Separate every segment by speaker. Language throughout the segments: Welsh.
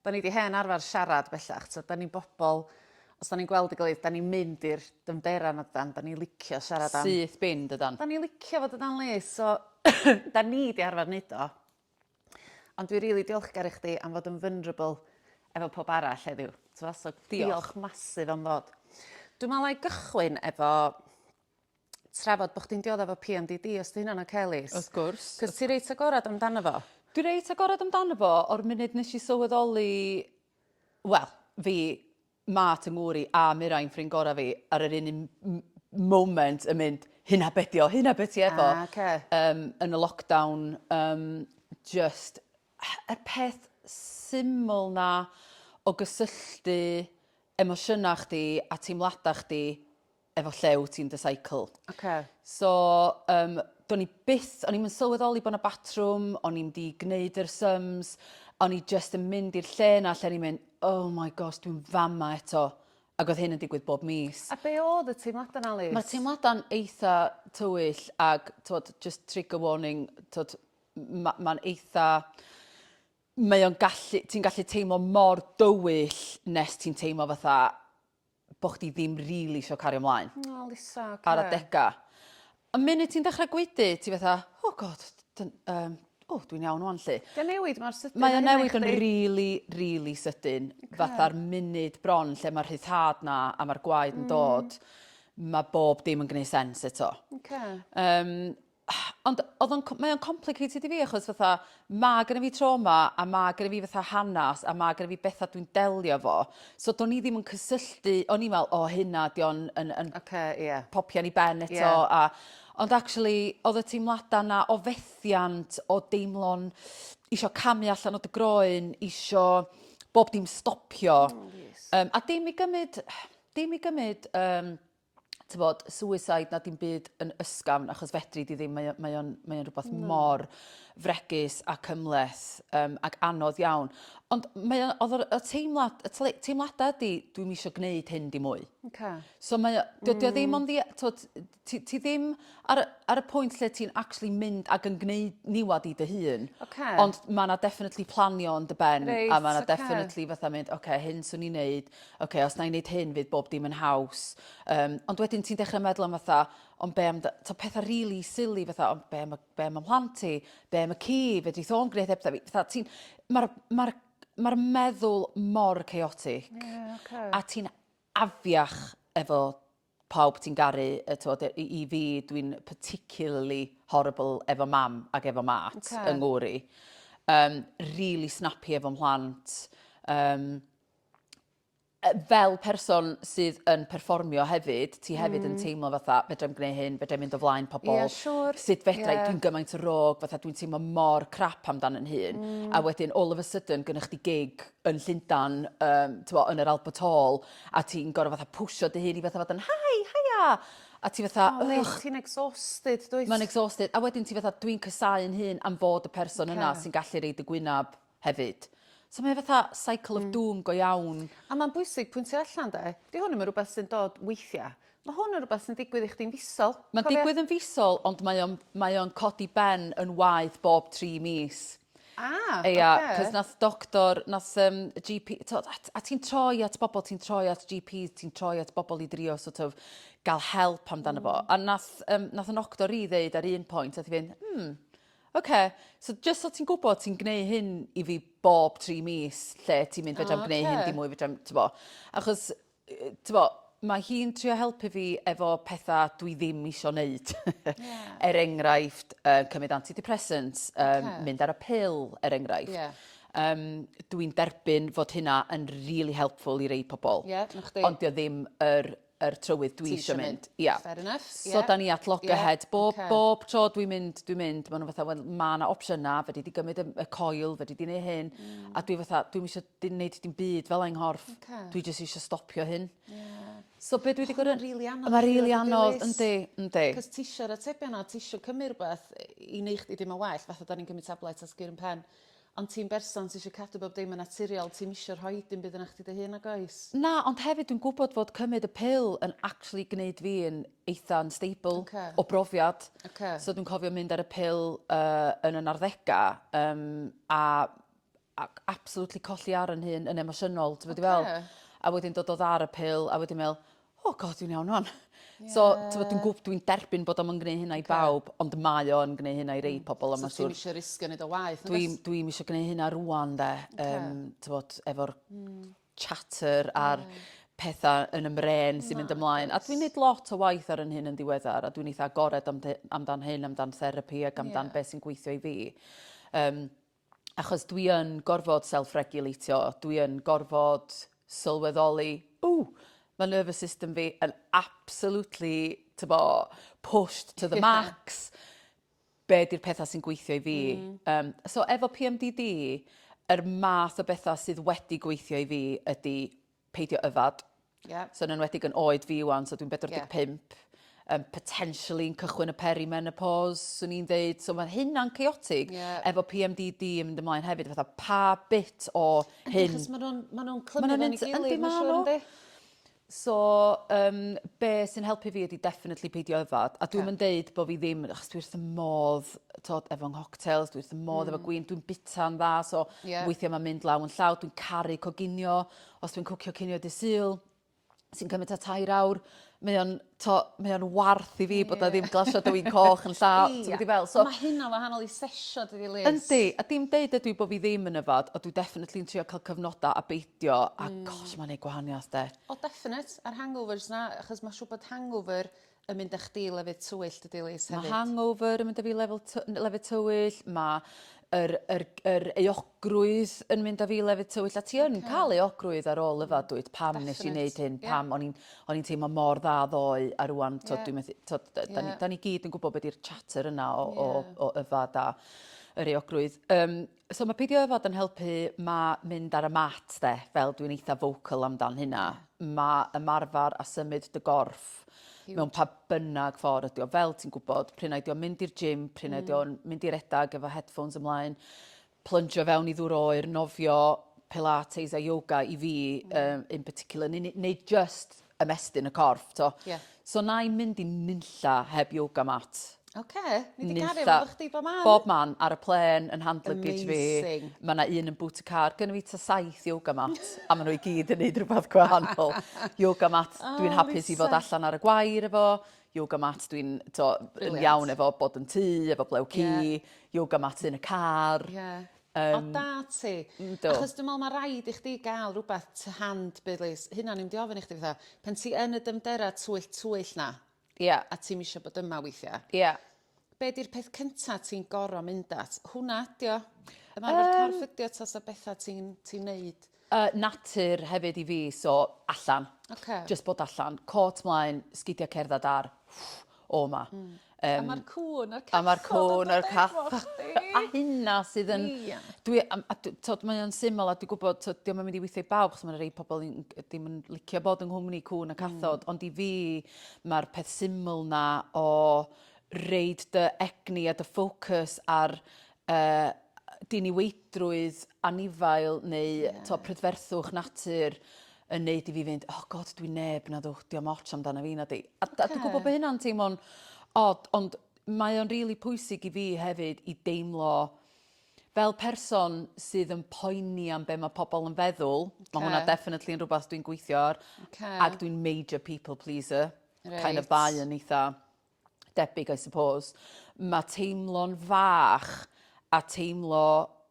Speaker 1: 'Da ni 'di hen arfer siarad bellach, t'od 'da ni'n bobol os 'dan ni'n gweld 'i gilydd 'dan ni'n mynd i'r dyfnder arno dydan? 'Dan ni licio siarad am... Syth bin dydan? 'Dan ni
Speaker 2: licio fo
Speaker 1: dydan Lis? So 'dan ni 'di arfer neud o. Ond dwi rili diolchgar i chdi am fod yn vulnerable efo powb arall heddiw. T'mo' so... Diolch. ...diolch massive am ddod. Dwi me'wl 'nai gychwyn efo trafod bo' chdi'n diodde 'fo PMDD os 'di hynna'n oce Lis? Wrth gwrs. 'C'os ti
Speaker 2: reit agored
Speaker 1: amdano fo. Dwi reit agored
Speaker 2: amdano fo o'r munud nesh i sylweddoli wel fi Mart 'y ngŵr i a Mirain ffrind gora fi ar yr un un m- m- moment yn mynd hynna be' 'di o hynna be' ti efo. Ah oce. Yym yn y lockdown yym jyst y peth syml 'na o gysylltu emosiyna chdi a teimlada chdi efo llew ti'n dy cycle. Okay. So, um, do'n i byth, o'n i'n sylweddoli bod yna batrwm, o'n i'n di gwneud yr sums, o'n i just yn mynd i'r lle yna lle o'n i'n mynd, oh my gosh, dwi'n fama eto. Ac oedd hyn yn digwydd bob mis. A be oedd y teimladau
Speaker 1: na, Liz? Mae'r teimladau'n eitha
Speaker 2: tywyll ac, tod, just trigger warning, tod, mae'n ma eitha... Mae o'n gallu... Ti'n gallu teimlo mor dywyll nes ti'n teimlo fatha bo chdi ddim rili isio cario mlaen. O Lisa oce. Ar
Speaker 1: adega.
Speaker 2: Y munud ti'n dechra gwaedu ti fatha oh God dyn- yym o dwi'n iawn ŵan 'lly. 'Di o'n newid mor sydyn â
Speaker 1: hynna i chdi? Mae o'n newid yn rili
Speaker 2: rili sydyn. Oce. Fatha'r munud bron lle ma'r rhyddhad 'na a ma'r gwaed yn dod ma' bob dim yn gneu' sense eto. Oce. Yym Ond oedd o'n mae o'n complicated i fi achos fatha mae gen i fi trauma a mae gen i fi fatha hanes a mae gen i fi bethau dwi'n delio fo. So do'n i ddim yn cysylltu, o'n i'n meddwl, o hynna, di o'n yn, yn okay, yeah. popian i ben eto. Yeah. A, ond actually, oedd y teimladau yna o fethiant, o deimlo'n isio camu allan o dy groen, isio bob dim stopio. Oh, yes. um, a dim i gymryd, dim i gymryd um, t'bod suicide na dim byd yn ysgafn achos fedri di ddim mae o mae o'n mae o'n rwbath no. mor fregus a cymleth um, ac anodd iawn. Ond mae o'n oedd y teimlad y tle, teimladau ydy dwi'n eisiau gwneud hyn di mwy. Okay. So mae dydy mm. o ddim mm. ond t'od ti, ti ddim ar ar y pwynt lle ti'n actually mynd ac yn gwneud niwad i dy hun. Okay. Ond mae yna definitely planio yn dy ben right, a mae yna okay. definitely fatha mynd okay, hyn swn i'n neud ok, os na i'n neud hyn fydd bob dim yn haws. Um, ond wedyn ti'n dechrau meddwl am fatha, ond be am, ta pethau really silly fatha, ond be am, be am ymhlant ti, be am y ci, fe di tho'n gwneud heb fi. Fatha, ti'n, mae'r ma ma meddwl mor chaotic. Yeah, okay. A ti'n afiach efo pawb ti'n garu yy t'wod yy i i fi dwi'n particularly horrible efo mam ag efo mat Ocê. yng ngŵr i. Yym rili snappy efo mhlant yym yy fel person sydd yn perfformio hefyd ti hefyd yn hmm. teimlo fatha fedrai'm gneu' hyn fedrai'm mynd o flaen pobol. Ie siŵr. Sut fedra i dwi'n gymaint o rôg fatha dwi'n teimlo mor crap amdan yn hun hmm. a wedyn all of a sudden gynnych chdi gig yn Llundan yym t'mo' yn yr Alba Tall a ti'n gor'o' fatha pwsio dy hun i fatha fod yn hi hiya a ti fatha O wyt ych. ti'n exhausted
Speaker 1: dwyt? Ma'n exhausted a wedyn
Speaker 2: ti fatha dwi'n casáu'n hun am fod y person yna Ocê. sy'n gallu reid y gwynab hefyd. So mae o fatha cycle of doom go iawn. A ma'n bwysig pwyntio
Speaker 1: allan 'de 'di hwn 'im yn rwbeth sy'n dod weithia'. Mae hwn yn rhywbeth sy'n digwydd i chdi'n fisol. Mae'n digwydd yn fisol
Speaker 2: ond mae o'n mae o'n codi ben yn waeth bob tri mis. Ah, ocê. Ia, cos nath doctor, nath um, GP, to, a, a ti'n troi at bobl, ti'n troi at GPs, ti'n troi at bobl i drio sort of gael help amdano mm. fo. A nath, um, nath yn octor i ddeud ar un pwynt, nath i fynd, hmm, oce, okay. so just so ti'n gwybod ti'n gwneud hyn i fi bob tri mis lle ti'n mynd fedrai'm okay. gwneud hyn dim mwy fedrai'm, ti'n bo. Achos T'bo', mae hi'n trio helpu fi efo petha dwi ddim isio neud. Er enghraifft, yy cymryd antidepressants, yym mynd ar y pil, er enghraifft. Yym dwi'n derbyn fod hynna yn rili helpful i rei pobl. Ond 'di o ddim yr yr trywydd dwi isio mynd. Ia. So
Speaker 1: 'dan ni at
Speaker 2: loggerheads. Bob bob tro dwi'n mynd dwi'n mynd ma' nw fatha wel ma' 'na opsiyna fedri di gymryd y y coil fedri di neu' hyn a dwi fatha dwi'm isio dim neud dim byd fel 'a 'i nghorff. Oce. Dwi jyst isio stopio hyn. Ie. So be' dwi 'di gor'o'... O ma'n rili anodd... Mae rili
Speaker 1: anodd
Speaker 2: yndi yndi. 'C'os tisio'r atebion
Speaker 1: 'na tisio cymru rwbeth i neu' chdi deimlo'n well fatha 'dan ni'n cymryd tablets a's gyryn pen ond ti'n berson sy isio cadw bob dim yn naturiol ti'm isio rhoi dim byd yna chdi dy hun nag oes? Na ond hefyd dwi'n
Speaker 2: gwbod fod cymyd y pil yn actually gneud fi yn eitha unstable... Oce. ...o brofiad. Oce. So dwi'n cofio mynd ar y pil yy yn y narddega yym a ac absolutely colli ar 'yn hun yn emosiynol t'mod dwi fel... Oce. ...a wedyn dod o dda'r y pil a wedyn me'wl o God dwi'n iawn ŵan. Ie. So t'mod dwi'n gwb- dwi'n derbyn bod o'm yn gneu' hynna i bawb ond mae o yn gneu' hynna i rei pobol a ma' siŵr... So ti'm isio risgio
Speaker 1: neud o waeth nagwyt? Dwi'm dwi'm isio gneu' hynna
Speaker 2: rŵan 'de. Oce. Yym t'mod efo'r... Hmm. ...chatter a'r... Ie. ...petha yn 'y mren sy'n mynd ymlaen. Nagwt. A dwi'n neud lot o waith ar 'yn hun yn ddiweddar a dwi'n eitha agored am dy- amdan hyn amdan therapi ag amdan... Ie. ...be' sy'n gweithio i fi. Yym. achos dwi yn gorfod self-regulatio, dwi yn gorfod sylweddoli, ww, mae nervous system fi yn absolutely, tybo, pushed to the yeah. max. Be di'r pethau sy'n gweithio i fi? Mm. Um, so efo PMDD, yr er math o bethau sydd wedi gweithio i fi ydy peidio yfed. Yeah. So yn enwedig yn oed fi wan, so dwi'n 45. Yeah. Um, potentially yn cychwyn y perimenopause, swn i'n dweud. So mae hynna'n chaotic. Yeah. Efo PMDD yn mynd ymlaen hefyd, fatha pa bit o hyn... Achos maen nhw'n
Speaker 1: ma nhw clymu fe'n ei gilydd, mae'n siŵr yndi? So,
Speaker 2: um, be sy'n helpu fi ydy definitely peidio yfad. A dwi'n yeah. mynd deud bod fi ddim, achos dwi wrth y modd t'od efo nghoctels dwi wrth fy modd efo hmm. gwin dwi'n bita'n dda so yeah. weithia' ma'n mynd law yn llaw dwi'n caru coginio os dwi'n cwcio cinio dy sul sy'n cymryd ta tair awr mae o'n to mae o'n warth i fi yeah. bod o ddim glasio dy win coch yn llaw ti'n gwybod i fel so mae hynna
Speaker 1: wahanol i sesio dydi Liz yndi a dim deud
Speaker 2: ydw i bod fi ddim yn yfod o dwi definitely'n trio cael cyfnodau a beidio a mm. gosh mae'n ei gwahaniaeth de o definite a'r
Speaker 1: hangovers na achos mae'n siŵr bod hangover yn mynd â chdi i lefydd tywyllt y Dilies hefyd. Mae hangover yn mynd â fi
Speaker 2: lefel lefydd tywyll, mae yr, yr, yr eogrwydd yn mynd â fi lefydd tywyll, a ti yn okay. cael eogrwydd ar ôl yfa, dwyt, pam Definite. nes i wneud hyn, yeah. pam o'n i'n, on teimlo mor dda ddoe, a rwan, yeah. dwi'n methu, to, da, yeah. da, ni, da ni gyd yn gwybod beth yw'r chatter yna o, yeah. o, o yfa da yr eogrwydd. Um, So mae peidio â fod yn helpu, mae mynd ar y mat de, fel dwi'n eitha vocal amdan hynna. Mae ymarfer a symud dy gorff mewn pa bynnag ffordd ydi o, fel ti'n gwybod, pryn ydi o'n mynd i'r gym, pryn ydi o'n mm. mynd i redag efo headphones ymlaen, plungio fewn i ddŵr oer, nofio, pilates a yoga i fi mm. um, in particular, neu, neu just ymestyn y corff, to. Yeah. So na i mynd i nunlla heb yoga mat. Oce, ni
Speaker 1: wedi cario efo chdi bob man. Bob man, ar y plen,
Speaker 2: yn hand luggage fi. Amazing. Mae yna un yn boot y car. Gynnu fi ta saith yoga mat, a maen nhw i gyd yn neud rhywbeth gwahanol. yoga mat, oh, dwi'n hapus i fod allan ar y gwair efo. Yoga mat, dwi'n iawn efo bod yn tu, efo blew ci. Yeah. Yoga mat yn y car. Yeah. O da
Speaker 1: ti. Yndw. Achos dwi me'wl ma' raid i chdi ga'l rwbath to hand bydlis. Hynna o'n i mynd i ofyn i chdi fatha pan ti yn y dyfndera twyll twyll 'na. Ia. A ti'm isio bod yma weithia'. Ia. Be' 'di'r peth cynta ti'n goro mynd at? Hwnna ydi o. Yym. Ymarfer corff ydi o tasa betha ti'n ti'n neud Y natur
Speaker 2: hefyd i fi, so allan. Oce. Jyst bod allan. Côt mlaen, sgidia cerdded ar o 'ma. Hmm. Yym. A ma'r
Speaker 1: cŵn a'r cathod. A ma'r cŵn a'r
Speaker 2: cathod. A hynna sydd yn... Ia. Dwi am a dwi t'od mae o'n syml a dwi gwbod t'od 'di o'm yn mynd i withio i bawb 'chos ma' 'na rei pobol yn g- dim yn licio bod yng nghwmni cŵn a hmm. cathod mm. ond i fi ma'r peth syml 'na o reid dy egni a dy ffocws ar y diniweidrwydd anifail neu yeah. to prydferthwch natur yn neud i fi fynd, oh god, dwi'n neb, na ddwch, diolch moch amdano fi, na di. A, okay. a dwi'n gwybod bod hynna'n teimlo'n od, ond mae o'n rili really pwysig i fi hefyd i deimlo fel person sydd yn poeni am be mae pobl yn feddwl, okay. mae hwnna definitely yn rhywbeth dwi'n gweithio ar, okay. ac dwi'n major people pleaser, right. kind of bai yn eitha debyg I suppose, mae teimlo'n fach a teimlo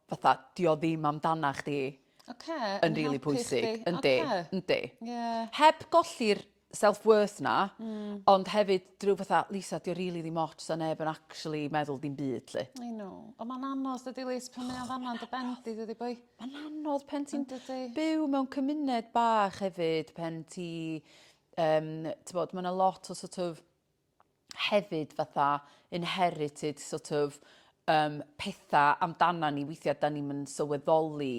Speaker 2: fatha dio ddim amdana chdi okay, yn rili really pwysig. Yndi, okay. yndi. Yeah. Heb golli'r self-worth na, mm. ond hefyd drwy fatha, Lisa, dio rili really ddim ots a neb yn actually meddwl dim byd, lle. I know. Ond mae'n
Speaker 1: anodd, dydy Lys, pan mae'n fanna yn dy bendi, dydy boi. Mae'n anodd pen
Speaker 2: ti'n byw mewn cymuned bach hefyd, pen ti Um, bod, mae yna lot o sort of hefyd fatha inherited sort of um, pethau amdana ni weithiau da ni'n mynd sylweddoli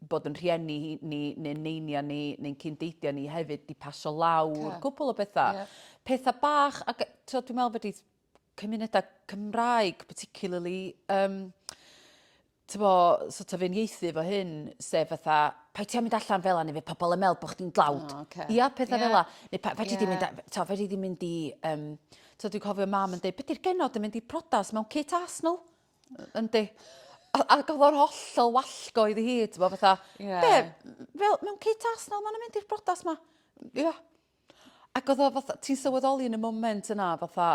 Speaker 2: bod yn rhieni ni, neu'n neinia ni, neu'n cyndeidio ni hefyd di pasio lawr, yeah. cwpl o bethau. Yeah. Pethau bach, ac so, dwi'n meddwl bod cymunedau Cymraeg, particularly, um, t'bo, sort of uniaethu 'fo hyn, sef fatha, 'paid ti â mynd allan fel 'a neu fydd pobl yn meddwl bod chdi'n dlawd. O ocê. Ia, pethau Ie. fel 'a. Neu pa- fedri di mynd a- t'o' fedri di mynd i yym t'o' dwi'n cofio mam yn deud, 'be' 'di'r genod yn mynd i priodas mewn kit arsenal? Yy yndi. A a o'dd o'n hollol wallgo iddi hi t'bo' fatha... Ie. ...be' m- fel mewn kit arsenal ma' nw'n mynd i'r briodas 'ma? Ia. Ac o'dd o fatha ti'n sylweddoli yn y moment yna fatha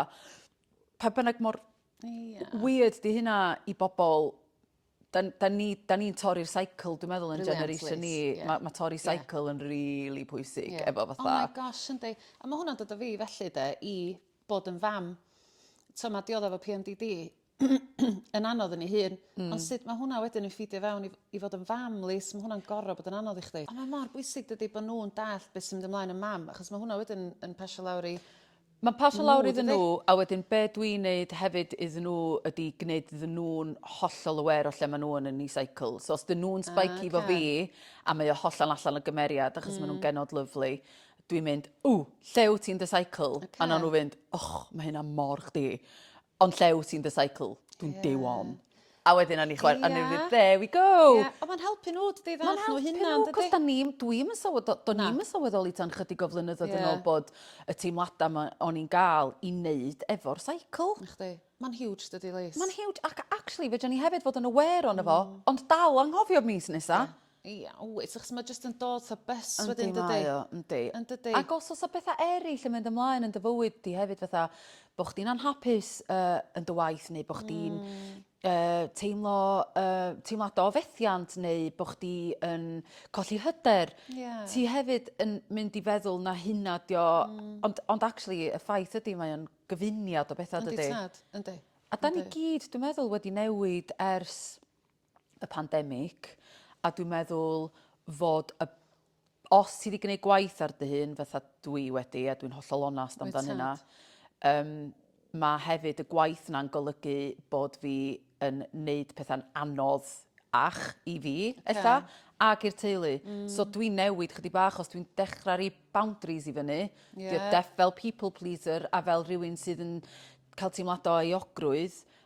Speaker 2: pa bynnag mor Ia. Weird 'di hynna i bobol 'dan 'dan ni 'dan ni'n torri'r cycle dwi meddwl yn generation ni ma' ma' torri cycle yn rili pwysig efo fatha... Oh my gosh yndi.
Speaker 1: A ma' hwnna'n dod â fi felly 'de i bod yn fam. T'o' ma' diodde efo Pee Em Dee Dee yn anodd yn 'i hun. Hmm. Ond sut ma' hwnna wedyn yn ffîdio fewn i f- i fod yn fam Lis ma' hwnna'n gor'o' bod yn anodd i chdi. A mae mor bwysig dydi bo' nw'n dallt be' sy'n mynd ymlaen yn mam achos ma' hwnna wedyn yn pasio lawr i Mae'n pasio lawr
Speaker 2: iddyn nhw a wedyn be dw i'n neud hefyd iddyn nhw ydi gwneud iddyn nhw'n hollol aware o lle maen nhw yn yn eu cycle. So os dyn nhw'n spiky efo fi a mae o hollol allan o gymeriad achos maen nhw'n genod lyfli, dwi'n mynd, 'Ww, lle wyt ti'n dy cycle? A wnawn nhw fynd, 'Och, mae hynna mor chdi. Ond lle wyt ti'n dy cycle? Dwi'n yeah. day one. A wedyn o'n i chwer, yeah. o'n i there we go. Yeah. O, mae'n helpu nhw,
Speaker 1: dydy ddall nhw hynna. Mae'n helpu nhw, cos da ni'n, dwi'n yn
Speaker 2: sylweddol, do ni'n yn sylweddoli tan chydig o flynyddoedd yeah. yn ôl bod y teimladau o'n i'n gael i wneud efo'r cycle. Nachdi. Mae'n huge,
Speaker 1: dydy, Lys. Mae'n huge, ac actually,
Speaker 2: fe dyn ni hefyd fod yn aware o'n efo, mm. ond dal anghofio mis nesa. Yeah. Ia wyt
Speaker 1: achos ma' jyst yn dod fatha bus wedyn dydi? Yndi mae o yndi. Yndydi? Ac os o's
Speaker 2: 'a betha eryll yn mynd ymlaen yn dy fywyd di hefyd fatha bo' chdi'n anhapus yy yn dy waith neu bo' chdi'n yy teimlo yy teimlada o fethiant neu bo' chdi yn colli hyder... Ie. ...ti hefyd yn mynd i feddwl na hynna 'di o ond ond actually y ffaith ydi mae o'n gyfuniad o betha dydi? Yndi tad yndi. A 'dan
Speaker 1: ni gyd
Speaker 2: dwi meddwl wedi newid ers y pandemig, a dwi'n meddwl fod y os ti wedi gwneud gwaith ar dy hun, fatha dwi wedi, a dwi'n hollol onast amdan hynna, um, mae hefyd y gwaith yna'n golygu bod fi yn neud pethau'n anodd ach i fi, eitha, ac i'r teulu. Mm. So dwi'n newid chydig bach os dwi'n dechrau rhi boundaries i fyny. Yeah. Dwi fel people pleaser a fel rhywun sydd yn cael teimladau o eogrwydd,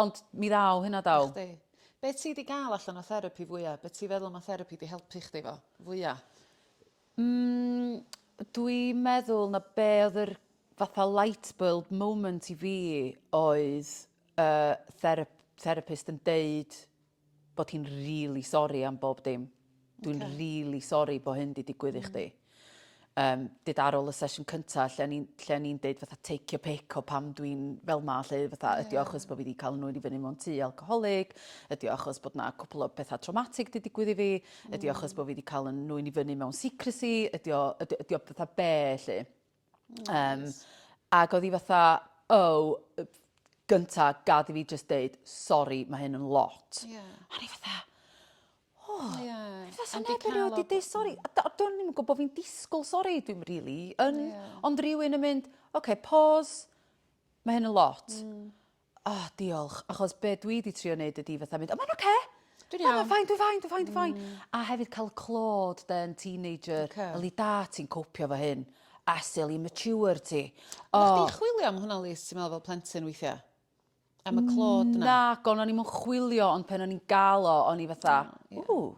Speaker 2: Ond mi ddaw hynna daw. I chdi. Be ti di
Speaker 1: ga'l allan o therapi fwya? Be ti feddwl ma therapi di helpu chdi fo fwya? Mm
Speaker 2: dwi meddwl na be oedd yr fatha lightbulb moment i fi oedd yy therap- therapist yn deud bod hi'n rili sori am bob dim. Dwi'n okay. rili sori bod hyn di digwydd mm. i chdi. Um, dyd ar ôl y sesiwn cyntaf, lle ni'n lle ni deud fatha take your pick o pam dwi'n fel ma, lle fatha yeah. ydi achos bod fi wedi cael nhw'n i fyny mewn tu alcoholig, ydi achos bod na cwpl o bethau traumatic di digwydd i fi, mm. ydi achos bod fi wedi cael nhw'n i fyny mewn secrecy, ydi o, ydi, ydi o fatha be, lle. Um, ac oedd hi fatha, oh, gynta, gad i fi just deud, sorry, mae hyn yn lot. Yeah. A ni fatha, oh, yeah. fatha neb yn rhaid i deud sorry. A do'n i'n gwybod bod fi'n disgwyl sorry, dwi'n really, yn, yeah. ond rhywun yn mynd, oce, okay, pause, mae hyn yn lot. Mm. Oh diolch achos be dwi 'di trio neud ydi fatha mynd o mae'n oce! Dwi'n iawn. Mae'n fine dwi'n fine dwi'n fine dwi'n fine. Hmm. A hefyd ca'l y clod 'de yn teenager. Oce. Yli da ti'n copio 'fo hyn? A sut yli mature ti? O. Oddach chdi'n chwilio
Speaker 1: am hwnna Lis ti'n meddwl fel plentyn weithia'? Am y clod 'na? Nagon o'n i'm yn
Speaker 2: chwilio ond pen o'n i'n ga'l o o'n i fatha... O ie. ...ww.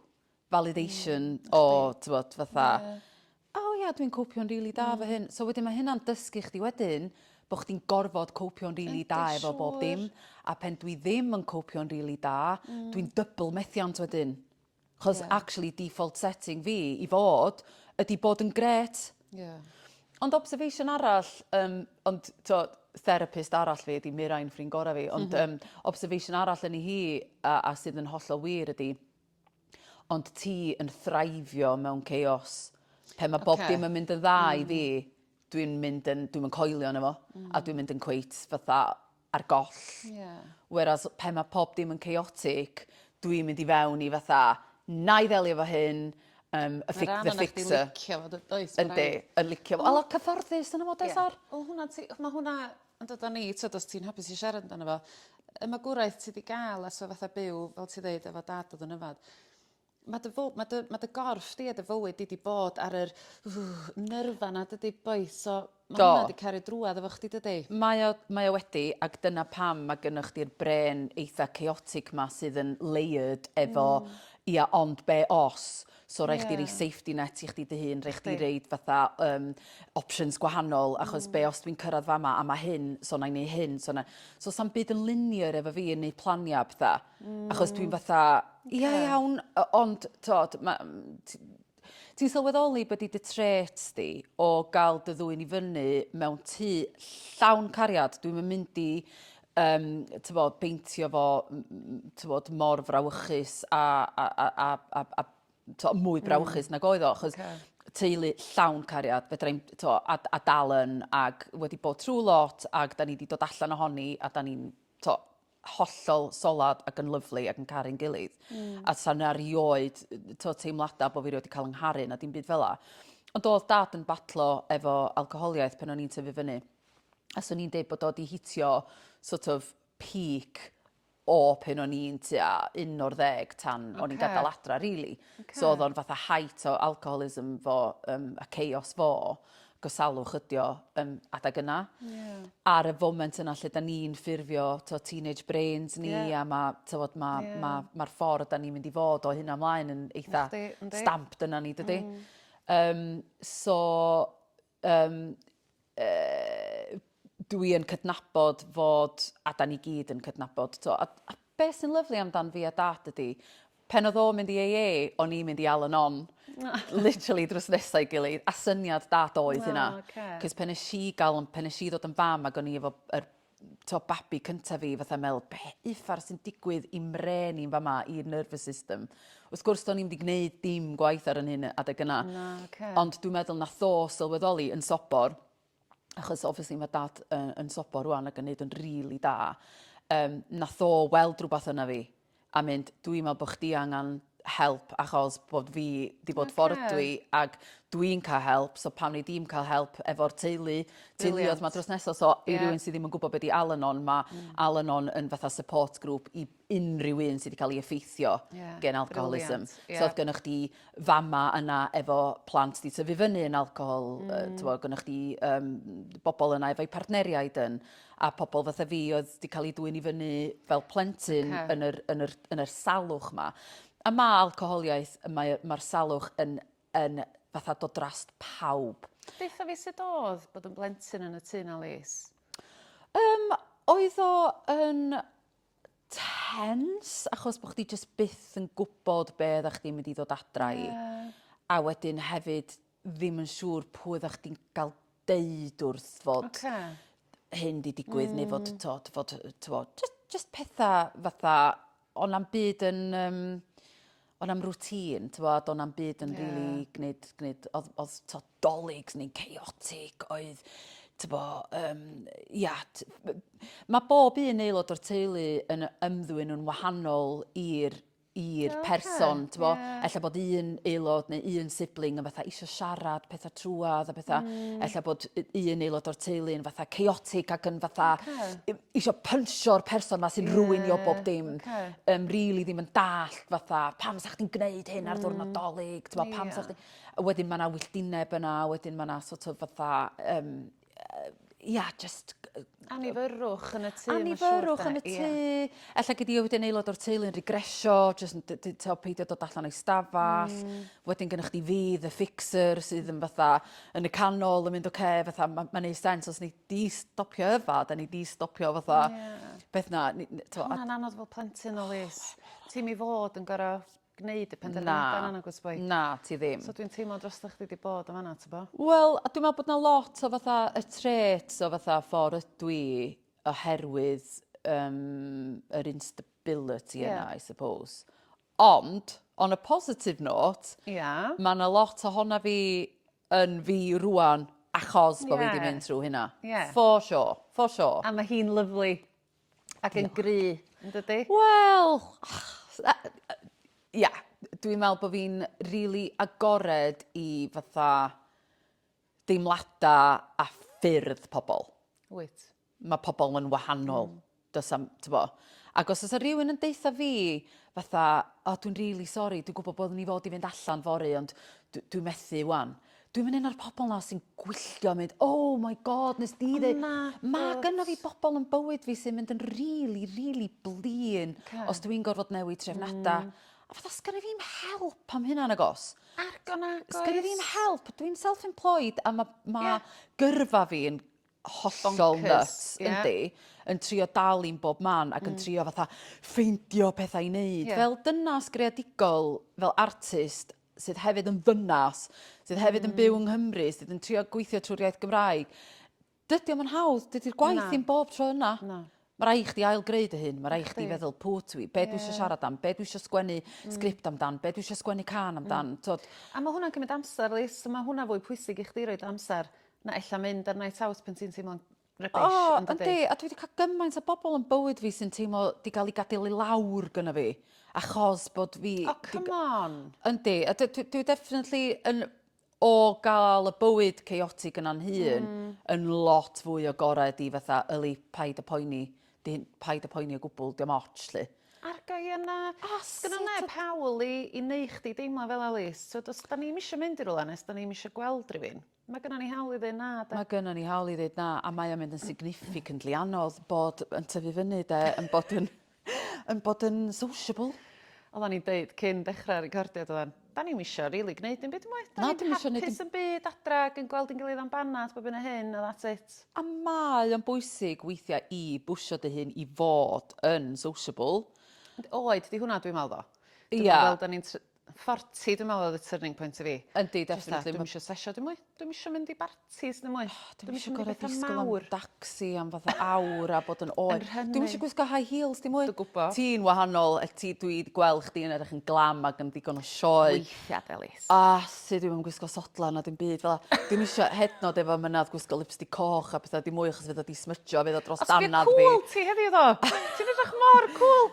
Speaker 2: validation o t'mod fatha... Ie. ...o ia dwi'n copio'n rili da 'fo hyn. So wedyn ma' hynna'n dysgu chdi wedyn bo' chdi'n gorfod copio'n rili da... Yndi siŵr. ...efo bob dim a phen dwi ddim yn copio'n rili da dwi'n double methiant wedyn. 'Chos actually default setting fi i fod ydi bod yn grêt. Ie. Ond observation arall yym ond t'o' therapist arall fi ydi Mirain ffrind gora' fi ond yym observation arall yni hi a a sydd yn hollol wir ydi Ond ti yn thraivio mewn chaos. Pe mae bob dim yn mynd yn dda i fi, mm. dwi'n mynd yn, dwi'n mynd coelio yna fo, a mm. dwi'n mynd yn cweit fatha ar goll. Yeah. Whereas pe mae pob dim yn chaotic, dwi'n mynd i fewn i fatha, na i ddelio fo hyn, um, y fix, the fixer. Mae'n rhan o'n licio fo, does?
Speaker 1: Yndi, yn licio
Speaker 2: fo. A lot cyfforddus yn y modes ar. Wel, hwnna, mae hwnna
Speaker 1: Ond o dan ni, tyd, os ti'n hapus i siarad amdano fo, y magwraeth ti wedi gael a so fatha byw, fel ti ddeud, efo dad oedd yn yfad, mae dy, fo, mae dy, mae dy gorff di a dy fywyd di wedi bod ar yr uh, nyrfa na dydy boeth. So mae Do. hwnna wedi cario drwad efo chdi dydy? Mae o, mae o wedi,
Speaker 2: ac dyna pam mae gynnwch chdi'r bren eitha chaotic ma sydd yn layered efo, mm. ia, ond be os? So rhaid chdi roi safety net i chdi dy hun, rhaid chdi roid fatha um, options gwahanol, achos mm. be os dwi'n cyrraedd fama a mae hyn, so na i neu hyn, so na... So sa'n byd yn linear efo fi yn neud planiau btha, mm. achos dwi'n mm. fatha, ia okay. iawn, ond, tod, ti'n sylweddoli bod i dy tret di o gael dy ddwy'n i fyny mewn tu llawn cariad, dwi'n mynd i um, tyfod, beintio fo tyfod, mor frawychus a, a, a, a, a, a to, mwy hmm. brawychus mm. nag oedd o, achos okay. teulu llawn cariad, fedra i'n to, a, a dal yn, ac wedi bod trwy lot, ac da ni wedi dod allan ohoni, a da ni'n to, hollol solad ac yn lyflu ac yn caru'n gilydd. Mm. A sa'n arioed to, teimladau bod fi wedi cael yngharu na dim byd fel la. Ond oedd dad yn batlo efo alcoholiaeth pan o'n i'n tyfu fyny. a swn i'n deud bod o 'di hitio sort of peak o pen o'n i'n tua un o'r ddeg tan o'n i'n gadael adra rili. So oedd o'n fatha height o alcoholism fo um, a chaos fo gosalwch ydio um, adag yna. Yeah. Ar y foment yna lle da ni'n ffurfio to, teenage brains ni yeah. a mae tywod, ma, yeah. ma, ma ffordd da ni'n mynd i fod o hyn amlaen yn eitha stamped yna ni dydy. Mm. Um, so Yym, yy, dwi yn cydnabod fod, a da ni gyd yn cydnabod, to, a, a beth sy'n lyflu amdan fi a dad ydy, pen oedd o'n mynd i AA, o'n i'n mynd i Al Anon, literally drws nesau gilydd, a syniad dad oedd hynna. Oh, okay. Cys pen nes i gael, pen nes i ddod yn fam ac o'n i efo yr t'o' babi cynta fi fatha me'wl be' uffar sy'n digwydd i'm mrên i yn fama i'r nervous system. Wrth gwrs do'n i'm 'di gneud dim gwaith ar 'yn hun yy adeg yna. Na oce. Ond dwi'n meddwl nath o sylweddoli yn sobor achos obviously ma' dad yy yn sobor rŵan ac yn neud yn rili da yym nath o weld rwbath yna fi a mynd dwi me'wl bo' chdi angan help achos bod fi 'di bod ffor ydw i ag dwi'n ca'l help so pam nei di'm ca'l help efo'r teulu teuluodd 'ma drws nesa so i rywun sy ddim yn gwbo be' 'di Al Anon ma' Al Anon yn fatha support group i unryw un sy 'di ca'l 'i effeithio gen alcoholism. So odd gynnoch chdi fama yna efo plant 'di tyfu fyny yn alcohol yy t'mo' gynnoch chdi yym bobol yna efo'u partneriaid yn a pobl fatha fi oedd 'di cael eu dwyn i fyny fel plentyn... Ocê. ...yn yr yn yr yn yr salwch 'ma. A ma' alcoholiaeth yy mae o ma'r salwch yn yn fatha dod drost pawb. Deutha fi sut
Speaker 1: odd bod yn blentyn yn y tŷ 'na Lis? Yym
Speaker 2: oedd o yn tense achos bo' chdi jyst byth yn gwbod be' oddach chdi'n mynd i ddod adra i. Ie. A wedyn hefyd ddim yn siŵr pwy oeddach chdi'n gael deud wrth fod okay. hyn di digwydd mm. neu fod, mm. to, fod to, just, just pethau fatha, ond am byd yn... Um, ond am rŵtîn, ti'n bod, ond am byd yn yeah. really gwneud, gwneud oedd, oedd to, dolygs neu'n chaotic, oedd, ti'n bod, um, ia, mae bob un aelod o'r teulu yn ymddwyn yn wahanol i'r i'r person, ti'n bo? Yeah. Ella bod un aelod neu un sibling yn fatha eisiau siarad pethau trwad a pethau. Mm. Ella bod un aelod o'r teulu yn fatha chaotic ac yn fatha okay. eisiau pynsio'r person ma sy'n yeah. rwynio bob dim. Okay. Um, really ddim yn dallt fatha pam sa'ch ti'n gwneud hyn ar ddwrnod mm. dolyg, ti'n yeah. pam sa'ch ti'n... Wedyn mae yna wylltineb yna, wedyn mae yna sort of fatha um, ia jyst g- yy... Annifyrrwch
Speaker 1: yn y tŷ mae'n siŵr 'de? Annifyrrwch yn y tŷ.
Speaker 2: Ella gei di a wedyn aelod o'r teulu yn regresio jyst yn d- d- t'o' peidio dod allan o'i stafall. Hmm. Wedyn gynnoch chdi fi the fixer sydd yn fatha yn y canol yn mynd oce fatha ma' ma'n neu' sense os nei di stopio yfad a nei di stopio fatha... Ie. ...beth 'na ni- n- t'o' a... Ma' hwnna'n anodd fel
Speaker 1: plentyn Louise. Ti'm i fod yn gor'o' gneud y penderfyniadau yna nagwyt boi? Na, ti ddim. So
Speaker 2: dwi'n teimlo drostoch chdi
Speaker 1: 'di bod yn fanna t'bo? Wel, a dwi'n meddwl bod 'na
Speaker 2: lot o fatha y traits o fatha ffor ydw i oherwydd um, yr instability yeah. yna, I suppose. Ond, on a positive note, yeah. mae yna lot o honna fi yn fi rwan achos bod yeah. fi wedi mynd trwy hynna.
Speaker 1: Yeah.
Speaker 2: For sure,
Speaker 1: for
Speaker 2: sure. A mae hi'n lyflu.
Speaker 1: Ac yn gry yndydi? Wel
Speaker 2: ia dwi'n me'wl bo' fi'n rili agored i fatha deimlada a ffyrdd pobol. Wyt.
Speaker 1: Ma' pobol yn
Speaker 2: wahanol. Hmm. Do's 'am t'bo'? Ag os o's 'a rywun yn deutha fi fatha o dwi'n rili sori dwi gwbo bo' ni fod i fynd allan fory ond dw- dwi methu ŵan. Dwi'm yn un o'r pobol 'na sy'n gwylltio a mynd oh my God nes di ddeu-... Ond nagwt. ...ma' gynno fi bobol yn bywyd fi sy'n mynd yn rili rili blin... Oce. ...os dw i'n gorfod newid trefnada. Hmm. A fatha sgenno fi'm help am hynna nagos? Nago nagoes.
Speaker 1: Sgenno fi'm help
Speaker 2: dwi'n self employed a ma' ma'... Ie. ...gyrfa fi yn hollol... Boncyrs. ...nyts. Ie. Yndi. Yn trio dal i'm bob man ac yn trio fatha ffeindio pethau i neud. Ie. Fel dynas greadigol fel artist sydd hefyd yn ddynas, sydd hefyd yn byw yng Nghymru, sydd yn trio gweithio trwy'r iaith Gymraeg. Dydy o'm yn hawdd, dydy'r gwaith ddim bob tro yna. Na. Mae rai chdi ail greu dy hun, mae rai chdi feddwl pw twi, be yeah. dwi eisiau siarad am, be dwi eisiau sgwennu mm. sgript amdan, be dwi eisiau sgwennu can mm. amdan. Mm. Tod... A mae hwnna'n cymryd
Speaker 1: amser, Lis, mae hwnna fwy pwysig i chdi roed amser na ella mynd ar night out pan ti'n teimlo'n rubbish oh, yn dydi? Yndi, a dwi
Speaker 2: wedi cael gymaint o bobl yn bywyd fi sy'n teimlo di gael ei gadael i lawr gyda fi. Achos bod fi... Oh, come on!
Speaker 1: Yndi, a
Speaker 2: dwi, dwi definitely yn o gael y bywyd chaotic yna'n hun mm. yn lot fwy o gorau di fatha yli paid y poeni, di, paid y poeni o gwbl, diolch moch, lle. Arga i yna.
Speaker 1: Oh, Gyda neb hawl i, i neu chdi deimlo fel Alice. So, os da ni'n eisiau mynd i rwla nes da ni'n eisiau gweld rhywun. Mae gynnon ni hawl i ddeud na 'de? Mae gynnon ni hawl i ddeud na
Speaker 2: a mae o'n mynd yn significantly anodd bod yn tyfu fyny 'de yn bod yn yn bod yn sociable. Oddan ni'n deud
Speaker 1: cyn dechra'r recordiad oddan 'dan ni'm isio rili gneud dim byd dim mwy. 'Dan Na, ni'n dim isio neud dim- hapus yn
Speaker 2: byd adra ag
Speaker 1: yn gweld ein gilydd am banad bob hyn a hyn a that's it. A mae o'n
Speaker 2: bwysig weithia' i bwsio dy hun i fod yn sociable. Ond oed 'di
Speaker 1: hwnna dwi me'wl tho. Dwi me'wl Ia. fel 'dan ni'n tr- Forti dwi me'wl odd y turning point i fi. Yndi definitely. Dwi'm
Speaker 2: isio sessio dim mwy.
Speaker 1: Dwi'm isio mynd i bartis ddim mwy. Dwi'm isio mynd i betha mawr. Dwi'm isio
Speaker 2: gor'o' disgwl am dacsi am fatha awr a bod yn oer. Dwi'm isio gwisgo high heels dim mwy. Dwi gwbo. Ti'n wahanol
Speaker 1: yy
Speaker 2: ti dwi 'di gwel' chdi yn edrych yn glam ag yn ddigon o sioe. Weithia' Delyth. A
Speaker 1: sut dwi'm yn
Speaker 2: gwisgo sodlan na dim byd fela. Dwi'm isio hyd 'n o'd efo mynadd gwisgo lipstick coch a petha dim mwy achos fydd o 'di smydjo a fydd o dros dannedd fi. Os bydd cŵl ti heddiw ddo!
Speaker 1: Ti'n edrych mor cŵl!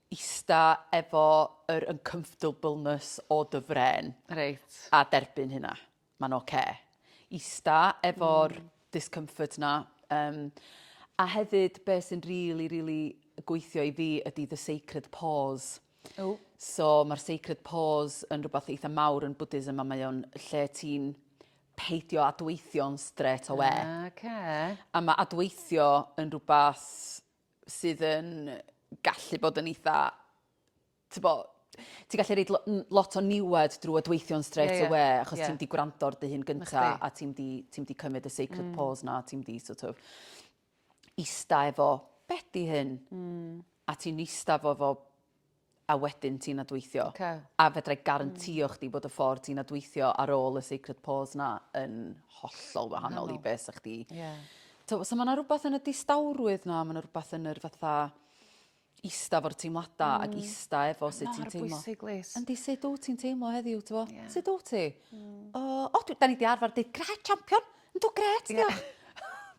Speaker 2: ista efo yr uncomfortableness o dy frên. Reit. A
Speaker 1: derbyn hynna.
Speaker 2: Ma'n ocê. Ista efo'r discomfort 'na yym a hefyd be' sy'n rili rili gweithio i fi ydi the sacred pause. Ww. So ma'r sacred pause yn rwbath eitha mawr yn Bwdhism a mae o'n lle ti'n peidio adweithio'n strêt awe. Ocê. A ma' adweithio yn rwbath sydd yn gallu bod yn eitha, tybo, ti'n gallu reid lot o niwed drwy adweithio'n straight yeah, yeah. away, achos yeah. ti'n di gwrando ar dy hun gynta, a ti'n di, ti di cymryd y sacred mm. pause na, ti'n di sort of ista efo, beth di hyn? Mm. A ti'n ista efo fo a wedyn ti'n adweithio. Ok. A fedra i garantio chdi bod y ffordd ti'n adweithio ar ôl y sacred pause 'na yn hollol wahanol i be' 'sa chdi... Ie. ...t'o' so ma' 'na rwbath yn y distawrwydd 'na ma' 'na rwbath yn yr fatha ista efo'r teimlada... Hmm. ...ac ista efo sut ti'n teimlo. Mor bwysig Lis. Yndi sut
Speaker 1: wt ti'n teimlo
Speaker 2: heddiw t'mo'? Ie. Sut wt ti? Hmm. O o dwi 'dan ni 'di arfar deud grêt champion! Yndw grêt 'di o.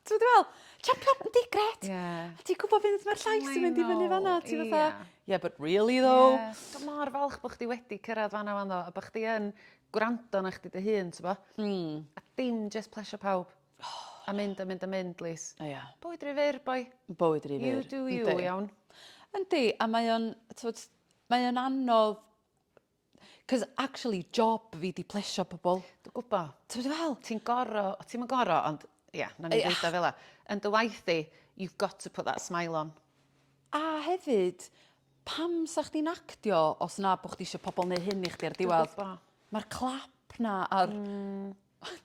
Speaker 2: T'mod dwi fe'wl champion yndi grêt. Ie. A ti gwbo fydd ma'r llais yn mynd i fyny fan 'na ti fatha... Ie ie. ...yeah but really though? Ie. Dwi mor falch
Speaker 1: bo' chdi wedi cyrradd fan 'na ŵan tho a bo' chdi yn gwrando arna chdi dy hun t'bo'? Hmm. A dim jyst plesio pawb. O! A mynd a mynd a mynd Lis. O ia. Bywyd ry fyr boi. Bywyd ry fyr. You do
Speaker 2: you iawn.
Speaker 1: Yndi a
Speaker 2: mae o'n t'wod mae o'n anodd 'C'os actually job fi 'di plesio pobol. Dwi gwbo. T'mo' dwi
Speaker 1: fe'wl? Ti'n
Speaker 2: goro o ti'm
Speaker 1: yn goro ond ia nawn ni ddeud o fela. Yn dy waith di you've got to put that smile on. A
Speaker 2: hefyd pam 'sa chdi'n actio os na bo' chdi isio pobol neu' hyn i chdi ar diwadd? Dwi gwbo. Ma'r clap 'na a'r... Hmm.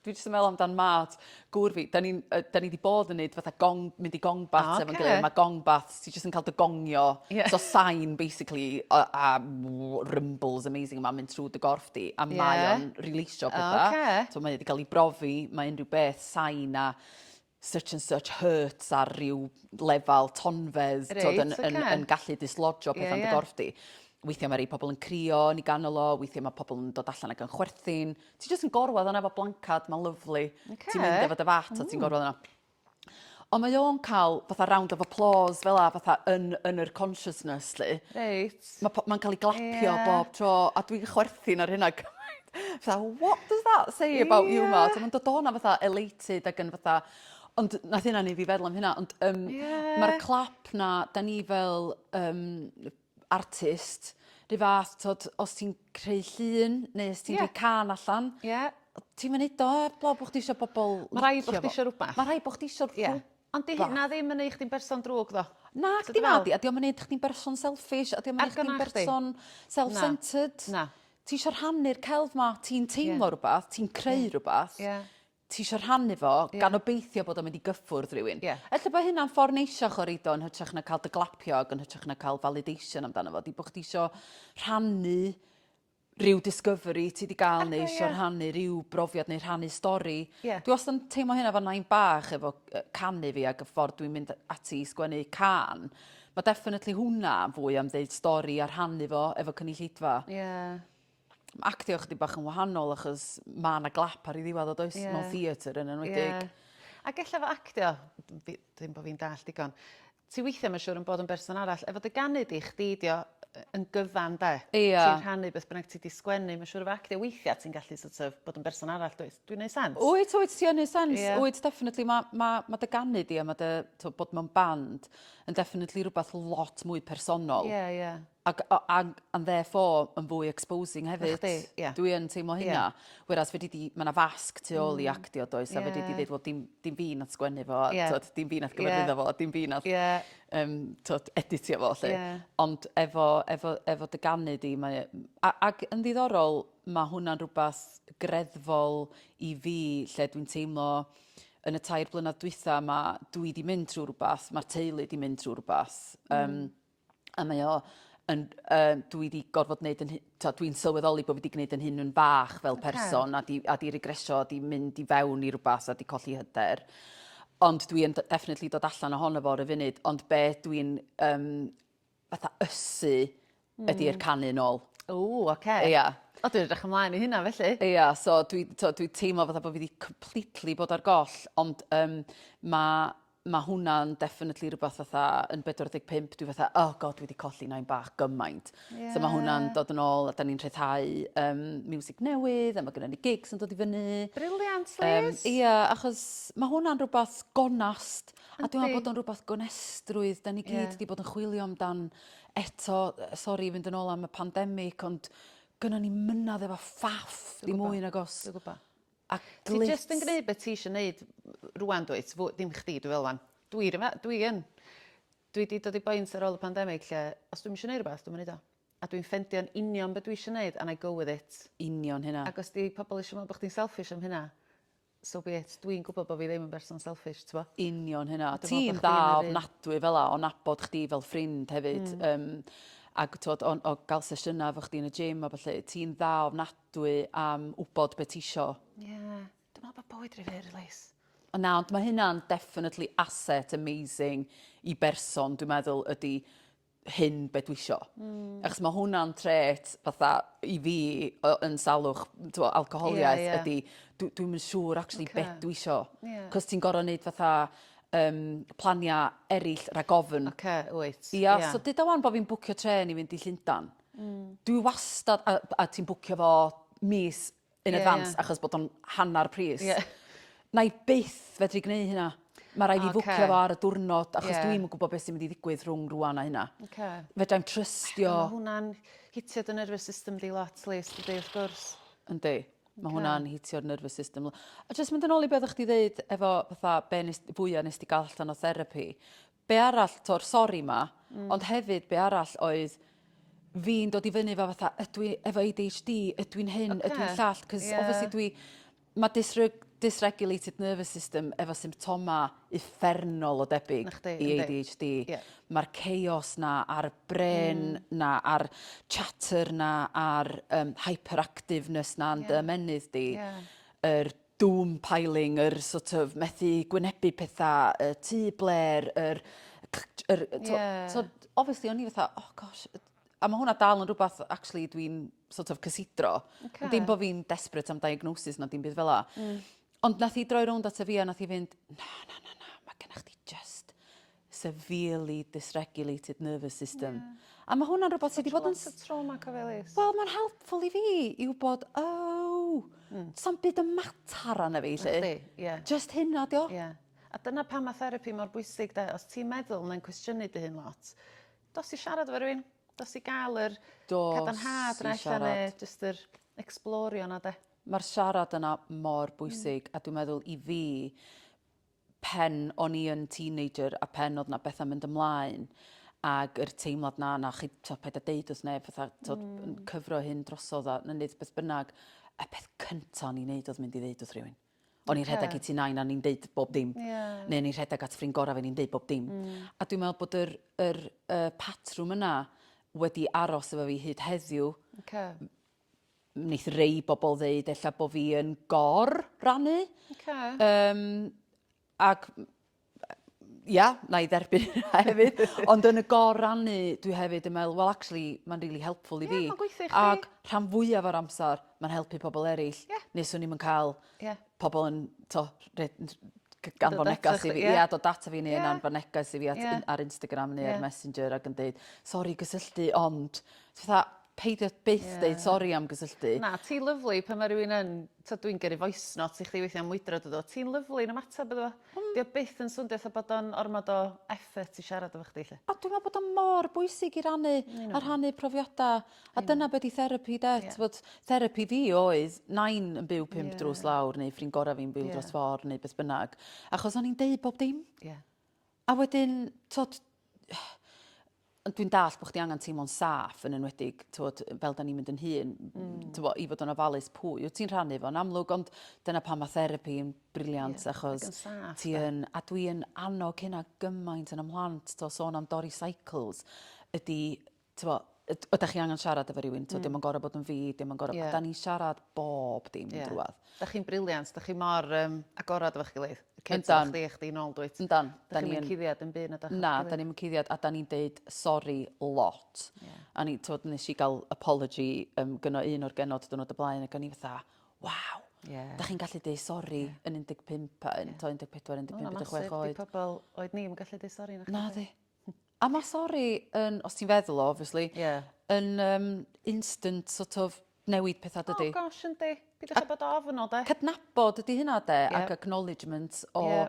Speaker 2: Dwi jyst yn meddwl amdan mad gŵr fi. Da ni, uh, da ni wedi bod yn neud fatha gong, mynd i gong bath ah, okay. efo'n gilydd. Mae gong bath, ti jyst yn cael dy gongio. Yeah. So sain, basically, a, a rumbles amazing yma, mynd trwy dy gorff di. A yeah. mae o'n releisio pethau. Okay. So mae wedi cael ei brofi, mae unrhyw beth, sain a such and such hurts ar ryw lefel tonfedd, right, tod, yn, okay. yn, yn gallu dislodge o pethau yeah, yn dy yeah. gorff di. Weithiau mae rhai pobl yn crio yn ei ganol o, weithiau mae pobl yn dod allan ac yn chwerthin. Ti jyst yn gorwedd yna efo blancad, mae'n lyflu. Okay. Ti'n mynd efo dy fat mm. a ti'n gorwedd yna. Ond mae o'n cael fatha round of applause fel a fatha yn, yn yr consciousness, li. Reit. Ma' po- ma'n ca'l 'i glapio... Ie. ...bob tro a dwi'n chwerthin ar hynna cymaint. Fatha what does that say about you ma'... Ie. ...so ma'n dod o 'na fatha elated ag yn fatha ond nath hynna neu' fi feddwl am hynna ond yym... Ie. ...ma'r clap 'na 'dan ni fel yym artist 'run fath t'od os ti'n creu llun neu os ti'n... Ie. ...rhoi cân allan... Ie. ...ti'm yn neud o 'eb law bo' chdi isio bobol licio fo. Ma' rhai' bo' chdi isio
Speaker 1: rwbath. Ma' rhai' bo' chdi isio... Ie. ...rhwbath
Speaker 2: Ond 'di hynna ddim yn
Speaker 1: neu' chdi'n berson drwg tho. Nag 'di nadi a 'di
Speaker 2: o'm yn neud chdi'n berson selfish a 'di o'm yn neud chdi'n berson self centred. Na. Ti isio rhannu'r celf 'ma ti'n teimlo rwbath ti'n creu rwbath. Ie. Ti isio rhannu fo gan obeithio bod o'n mynd i gyffwrdd rywun. Ie. Ella bo' hynna'n ffor neisiach o reid o yn hytrach na ca'l dy glapio ag yn hytrach na ca'l validation amdano fo 'di bo' chdi isio rhannu rhyw discovery ti 'di ga'l neu isio rhannu rhyw brofiad neu rhannu stori. Ie. Dwi wastad yn teimlo hynna efo nain bach efo yy canu fi ag y ffordd dwi'n mynd ati i sgwennu cân. Ma' definitely hwnna yn fwy am ddeud stori a rhannu fo efo cynulleidfa. Ie. Ma' actio chydig bach yn wahanol achos ma' 'na glap ar 'i ddiwadd o does? Ie. Mewn theatr yn enwedig. Ie. Ag ella efo
Speaker 1: actio, dw- fi... Dim bo' fi'n dallt digon. Ti weithia ma siwr yn bod yn berson arall efo dy ganu di, chdi dio yn gyfan de? Ia. Ti'n rhannu beth bynnag ti di sgwennu ma siwr efo actio weithia ti'n gallu sort of bod yn berson arall dwyt? Dwi'n neu sense? Wyt wyt ti yn neu sense
Speaker 2: Ia. wyt definitely ma ma ma dy ganu di a ma dy t'o bod mewn band yn definitely rwbath lot mwy personol. Ia ia. Ac, ac, and therefore, yn fwy exposing hefyd. Chdi, ie. Dwi yn teimlo hynna. Yeah. Whereas fedri di, mae yna fasg tu ôl i mm. actio does, yeah. a fedri di ddeud, wel, dim, dim fi nath sgwennu fo, yeah. tod, dim fi nath gyfarwyddo yeah. fo, dim fi nath yeah. um, tod, editio fo, lle. Yeah. Ond efo, efo, efo dy ganu di, mae, a, ac yn ddiddorol, mae hwnna'n rhywbeth greddfol i fi, lle dwi'n teimlo, yn y tair blynedd dwytha, mae dwi di mynd trwy rhywbeth, mae'r teulu di mynd trwy rhywbeth. Mm. Um, a mae o yn, uh, dwi wedi gorfod gwneud yn hyn, dwi'n sylweddoli bod fi wedi gwneud yn hyn yn fach fel person, okay. a, di, a di regresio, a di mynd i fewn i rhywbeth, a di colli hyder. Ond dwi'n definitely dod allan ohono fo ar y funud, ond be dwi'n um, fatha ysu mm. ydy'r hmm. canu nôl. O, oce. Okay. Ia. Yeah.
Speaker 1: O, dwi'n edrych ymlaen i hynna felly. Ia, yeah, so dwi'n
Speaker 2: dwi, dwi teimlo fatha bod fi wedi completely bod ar goll, ond um, mae ma hwnna'n definitely rhywbeth fatha yn 45 dwi fatha oh god dwi wedi colli nain bach gymaint. Yeah. So ma hwnna'n dod yn ôl a da ni'n rhyddhau um, music newydd a mae gennym ni gigs yn dod i fyny. Brilliant, Liz! Um,
Speaker 1: ia, achos
Speaker 2: mae hwnna'n rhywbeth gonast a dwi'n meddwl bod o'n rhywbeth gonestrwydd da ni gyd yeah. wedi bod yn chwilio amdan eto, sori fynd yn ôl am y pandemig ond gynna ni mynadd efo ffaff ddim mwy nag os. Dwi'n gwybod. A
Speaker 1: glyt. Ti jyst yn gneud be ti isio neud rŵan dwyt? Fo- Dim chdi dwi feddwl 'wan. Dwi ryw fa- dwi yn. Dwi 'di dod i boint ar ôl y pandemic lle os dwi'm isio neud rwbath dwi'm yn neud o. A dwi'n ffendio'n union be dwi isio neud and I go with it. Union hynna. Ag os
Speaker 2: 'di pobol isio me'wl
Speaker 1: bo' chdi'n selfish am hynna so be it. Dwi'n gwbod bo' fi ddim yn berson selfish t'bo'? Union hynna. A dwi me'wl bo' chdi yn yr un...
Speaker 2: Ti'n dda ofnadwy fel 'a o nabod chdi fel ffrind hefyd yym ag t'wod o'n o ga'l sesiyna efo chdi yn y gym a ballu ti'n dda ofnadwy Dwi am wbod be tisio. Ie. Dwi
Speaker 1: me'wl bod bywyd ry fyr Lis. O na ond ma'
Speaker 2: hynna'n definitely asset amazing i berson dwi meddwl ydi hyn be dwisio. Hmm. Achos ma' hwnna'n trait fatha i fi o yn salwch t'mo' alcoholiaeth... Ie ie. ...ydi dw- dwi'm yn siŵr actually... Oce. ...be dwisio. Ie. 'C'os ti'n gor'o' neud fatha yym plania eryll rag ofn. Oce wyt. Ia. Ia.
Speaker 1: So duda 'wan
Speaker 2: bo' fi'n bwcio trên i fynd i Llundan. Hmm. Dwi wastad a b- a ti'n bwcio fo mis in Ie, advance ie. achos bod o'n hannar pris. Ie. 'Nai byth fedru gneu' hynna. Ma' rai' fi Ocê. fwcio fo ar y dwrnod achos Ie. dwi'm yn gwbo be' sy mynd i ddigwydd rhwng rŵan a hynna. Oce. Fedrai'm trystio... Ma' hwnna'n
Speaker 1: hitio dy nervous system di lot Lis dydi wrth gwrs. Yndi.
Speaker 2: Ma' Oce. hwnna'n hitio'r nervous system l-. A jyst mynd yn ôl i be' oddach chdi ddeud efo fatha be' nes- fwya nes di ga'l allan o therapi be arall t'o'r sori 'ma ond hefyd be arall oedd fi'n dod i fyny efo fatha ydw i efo ADHD ydw i'n hyn ydw i'n llall 'c'os obviously dwi ma' dysreg- dysregulated nervous system efo symptoma uffernol o debyg... Nachdi? ...i ADHD.
Speaker 1: Ie.
Speaker 2: Ma'r
Speaker 1: chaos
Speaker 2: 'na a'r brên 'na a'r chatter 'na a'r yym hyperactiveness 'na yn dy ymennydd di... Ie. ...yr doom piling, yr sort of methu gwynebu pethau, y tŷ blêr, yr... yr
Speaker 1: yeah. so,
Speaker 2: obviously, o'n i fatha, oh gosh, a mae hwnna dal yn rhywbeth, actually, dwi'n sort of cysidro. Okay. Dim bod fi'n
Speaker 1: desperate
Speaker 2: am diagnosis na dim byd fel la. Mm. Ond nath i droi rownd at y fi a nath i fynd, na, na, na, na, mae gennych chdi just severely dysregulated nervous system. Ie. A ma' hwnna'n rwbath sy 'di bod yn... Lot o trauma cyfeilus.
Speaker 1: Wel ma'n helpful i
Speaker 2: fi i wbod oh... Hmm. ...sa'm byd yn matar arna fi 'lly. Nachdi? Ie. Jyst hynna
Speaker 1: 'di o. Ie.
Speaker 2: A dyna
Speaker 1: pam ma' therapi mor bwysig 'de os ti'n meddwl mae'n cwestiynu dy hun lot dos i siarad efo rywun. Dos i ga'l yr... Dos i siarad. ...cadarnhad
Speaker 2: 'na ella
Speaker 1: ne' jyst
Speaker 2: yr
Speaker 1: ecsblorio 'na 'de? Ma'r siarad yna
Speaker 2: mor bwysig... Hmm. ...a dwi meddwl i fi pen o'n i yn teenager a pen o'dd 'na betha mynd ymlaen ag yr teimlad 'na na chi t'o' paid a deud wrth neb fatha t'od yn cyfro hyn drosodd a nawn neud beth bynnag y peth cynta o'n i'n neud o'dd mynd i ddeud wrth rywun. O'n i'n rhedeg i tŷ nain a o'n i'n deud bob dim. Ie. Ne' o'n i'n rhedeg
Speaker 1: at ffrind gora
Speaker 2: fi o'n i'n deud bob dim. A dwi me'wl bod yr yr y patrwm yna wedi aros efo fi hyd heddiw. Oce. wneith rei bobl ddeud ella bod fi yn gor rannu. Okay.
Speaker 1: Um,
Speaker 2: ac ia, na i dderbyn hynna hefyd. Ond yn y gor rannu, dwi hefyd yn meddwl, well, actually, mae'n really helpful i fi. Yeah, gweithio i chdi. Ac
Speaker 1: rhan fwyaf o'r
Speaker 2: amser, mae'n helpu pobl eraill. Yeah. Neswn ni'n cael yeah. pobl yn,
Speaker 1: to,
Speaker 2: gan fod negas i fi,
Speaker 1: ia, dod data fi
Speaker 2: neu yna'n fod negas i fi ar Instagram neu
Speaker 1: ar
Speaker 2: Messenger ac yn
Speaker 1: dweud,
Speaker 2: sori gysylltu, ond, fatha, peidio byth deud... Ie. ...sori am
Speaker 1: gysylltu.
Speaker 2: Na, ti'n lyfli pan
Speaker 1: ma' rywun yn, t'od dwi'n gyrru voice note i chdi weithia' am mwydro dw i ddo, ti'n lyfli yn ymateb iddo fo. Hmm. 'Di o byth yn swndio 'tha bod o'n ormod o effort i siarad efo chdi 'lly. A dwi me'wl bod o mor
Speaker 2: bwysig i rannu... Yn union. ...a rhannu profiada a... Yn union. ...dyna be' 'di therapi 'de? Ie. T'mod therapi fi oedd nain yn byw pump... Ie. ...drws lawr neu ffrind gora' fi'n byw... Ie. ...dros ffor neu beth bynnag achos o'n i'n deud bob dim. Ie. A
Speaker 1: wedyn
Speaker 2: t'od Ond dwi'n dallt bod chdi angen teimlo'n saff, yn enwedig, tywod, fel da ni'n mynd yn hŷn, tywod, i fod yn ofalus pwy wyt ti'n rhannu fo'n amlwg, ond dyna pan mae therapi yn briliant, yeah, achos ti
Speaker 1: yn, a dwi yn
Speaker 2: annog hynna gymaint yn ymhlant, to sôn am dorri cycles, ydy, tywod, ydych chi angen siarad efo rhywun, tywod, mm. dim yn gorau bod yn fi, dim yn gorau, yeah. da ni siarad bob dim yeah. drwad. Dach chi'n brilliant, dach
Speaker 1: chi mor um, agorad efo'ch gilydd. Y kids efo chdi, chdi nôl
Speaker 2: dwyt.
Speaker 1: Yndan. Da ni'n yn... cuddiad
Speaker 2: yn
Speaker 1: byd na dach Na, da ni'n cuddiad a
Speaker 2: da ni'n deud sori lot. Yeah. A ni, tywod, nes i gael apology um, gyno un o'r genod dwrnod y blaen ac o'n i fatha, waw, yeah. da chi'n gallu deud sori yeah. yn 15, yn yeah. 14, 15, 16 oed. Mae pobl oed ni'n
Speaker 1: gallu deud sori. Na, di.
Speaker 2: A ma' sori yn, os ti'n feddwl o obviously... Ie. ...yn yym instant sort of newid petha dydi? O gosh yndi. Peidiwch
Speaker 1: â bod ofn o 'de. Cydnabod ydi hynna
Speaker 2: 'de ac acknowledgement o... Ie.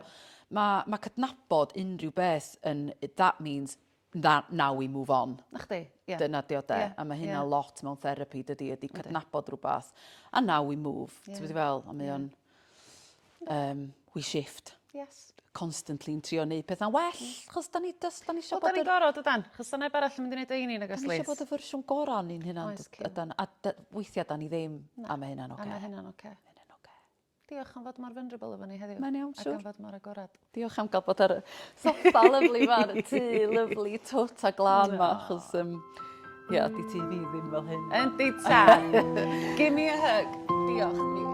Speaker 2: ...ma' ma' cydnabod unrhyw beth yn that means tha- now we move on. 'Na chdi. Ie. Dyna
Speaker 1: 'di o 'de? Ie ie. A ma'
Speaker 2: hynna lot mewn therapi dydi ydi cydnabod rwbath a now we move. Ie. Ti gwbo be' dwi fe'wl? A mae o'n... um, we shift. Yes.
Speaker 1: Constantly yn trio
Speaker 2: neud pethau'n well, mm. chos da ni, dos, da ni eisiau bod... Da ni'n gorau, dydan,
Speaker 1: chos da neb arall yn mynd i wneud ein un agos Da ni eisiau bod y fersiwn
Speaker 2: gorau o'n ni'n hynna'n, ydan, a
Speaker 1: weithiau
Speaker 2: da ni ddim, a mae hynna'n oce. A mae hynna'n oce.
Speaker 1: Diolch am fod mor vulnerable efo ni heddiw. Mae'n iawn, siwr. Ac am fod mor
Speaker 2: agorad.
Speaker 1: Diolch am gael bod ar y
Speaker 2: soffa lyfli ma, y tŷ lyfli twt a glam ma, achos um, ie, yeah,
Speaker 1: di
Speaker 2: ti fi
Speaker 1: ddim fel
Speaker 2: hyn.
Speaker 1: Yndi
Speaker 2: ta.
Speaker 1: Give me a
Speaker 2: hug. Diolch.